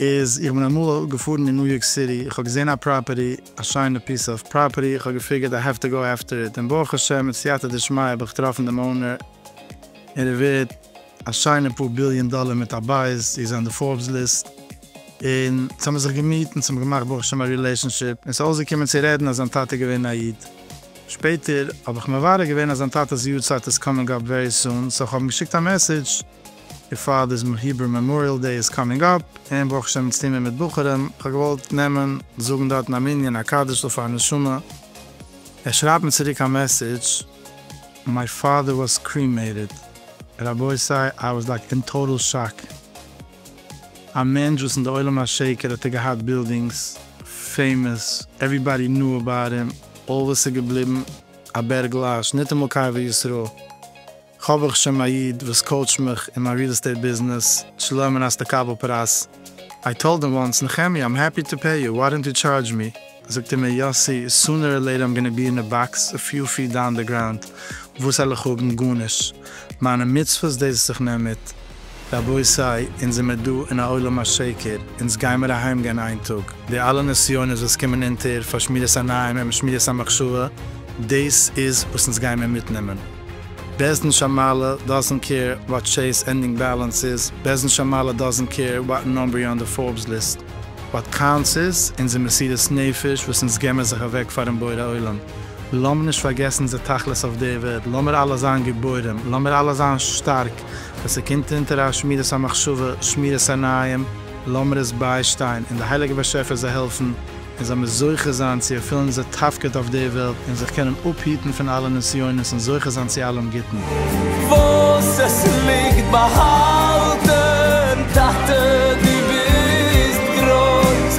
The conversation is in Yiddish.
איז איך בין אמאל געפארן אין ניו יארק סיטי איך האב געזען א פראפערטי א שיינע פיס אוו פראפערטי איך האב געפיגערט איי העוו טו גאו עפטער איט און ברוך השם מיט סייעתא דשמיא האב איך געטראפן דעם אונער און ער ווערט א שיינע פאר ביליאן דאלער מיט א בית איך זיי אין די פארבס ליסט און אונז האמיר זיך געמיט אונז האמיר געמאכט ברוך השם א רילעישאנשיפ און סאיז אויסגעקומען צו רעדן אז זיין טאטע איז געווען א איד שפעטער האב איך מברר געווען אז זיין טאטעס יארצייט איז קאמינג אפ ווערי סון סאו איך האב אים געשיקט א מעסעדזש. בעפאר דאס היברו מעמאריעל דעי איז קאמינג אפ, און ברוך השם אונז טוהן מיר מיט בחורים, איך האב געוואלט נעמען זאגן דארטן א מנין א קאדעש'ל פאר נשמה, ער שרייבט מיר צוריק א מעסעדזש, מיי פאדער וואס קרימעיטעד, רבותי איי וואס לייק אין טאטעל שאק, א מענטש וואס אין די עולם השקר האט ער געהאט בילדינגס, פעימעס, עוועריבאדי נאו אבאוט הים, אלל וואס איז געבליבן, א בערגל אש, ניטאמאל קבר ישראל, כ'האב איך שם א איד וואס קאוטשט מיך אין מיין ריעל עסטעיט ביזנעס שלא מן הסתקבל פרייז, איי טאלד הים וואנס, נחמיה איים העפי טו פעי יו, וואי דאנט יו טשארדזש מי, זאגט ער מיר יאסי סונער אר לעיטער איים גאנע בי אין א באקס א פיו פיט דאון דע גראונד, וואס העל איך האבן? גארנישט! מיינע מצוות דאס וואס איך נעם מיט, רבותי, אונז זעמער דא אין א עולם השקר, אונז גיימער אהיימגיין איין טאג, די אלע נסיונות וואס קומען אונטער פאר שמירת עיניים און שמירת המחשבה, דאס איז וואס אונז גיימער מיטנעמען. בעזהן שמאלה דאזענט קעיר וואט טשעיס ענדינג בעלענס איז, בעזהן שמאלה דאזענט קעיר וואט נאמבער יו אן די פארבס ליסט, וואט קאונטס איז אונזער מסירת נפש וואס אונז געמער זיך אוועק פארן בורא עולם, לאמער נישט פארגעסן אונזער תכלית אויף דער וועלט, לאמער אלע זיין גיבורים, לאמער אלע זיין שטארק, ווען ס'קומט אונטער א שמירת המחשבה, שמירת עיניים, לאמיר עס ביישטיין און די הייליגע באשעפער זיי העלפן און זיי מיר זוכה זיין צו ערפילן אונזער תפקיד אויף די וועלט און זיך קענען אפהיטן פון אלע נסיונות און זוכה זיין צו אלעם גוטן. וואס עס ליגט באהאלטן, טאטע דו ביסט גרויס,